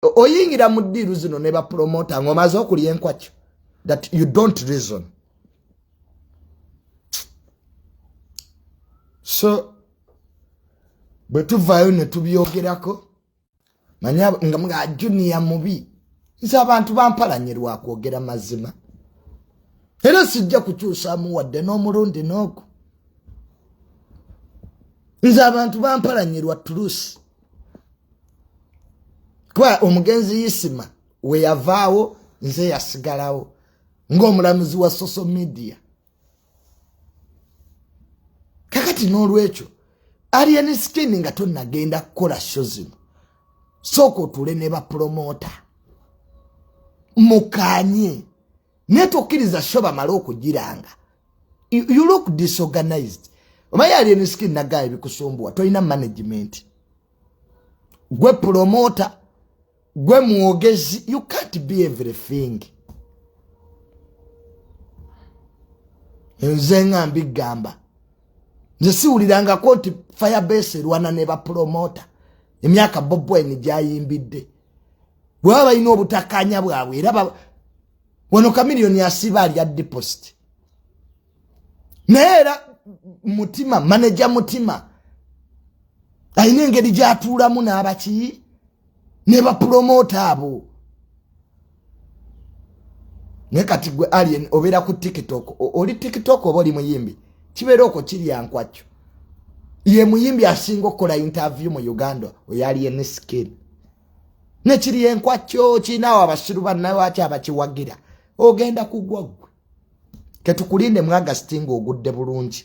oyingira mu ddiiru zino ne bapromota ng'omaze okulya enkwakyo that you don't reason so bwe tuvaayo ne tubyogerako manya nga mga juniya mubi nze abantu bampalanye lwakwogera mazima era sijja kukyusamu wadde n'omulundi n'ogu nze abantu bampalanye lwa tuluusi kuba omugenzi yisima weyavaawo nze yasigalawo ngaomulamuzi wa social media kakati n'olwekyo alien skin nga tonagenda kukola sho zino sooka otuule ne bapulomota mukanye naye tokkiriza sho bamale okugiranga you look disorganized omaye ali eniskin nagaa ebikusumbuwa tolina management gwe promota gwe mwogezi you can't be everything nze nga mbigamba nze siwulirangako nti firebase erwana ne bapromota emyaka bobwine gyayimbidde bwaba balina obutakanya bwabwe era wano kamiliyoni asiba alya deposit naye era mutima maneja mutima alina engeri gyatuulamu n'abakiyi ne bapulomota abo naye kati gwe alien obeera ku tiktok oli tiktok oba oli muyimbi kibeera okwo kirya nkwakyo ye muyimbi asinga okukola interview mu uganda oyo alien skin nekiri enkwakyo kirinawo abasiru bannawaki abakiwagira ogenda kugwa gwe ketukulinde mu agasti nga ogudde bulungi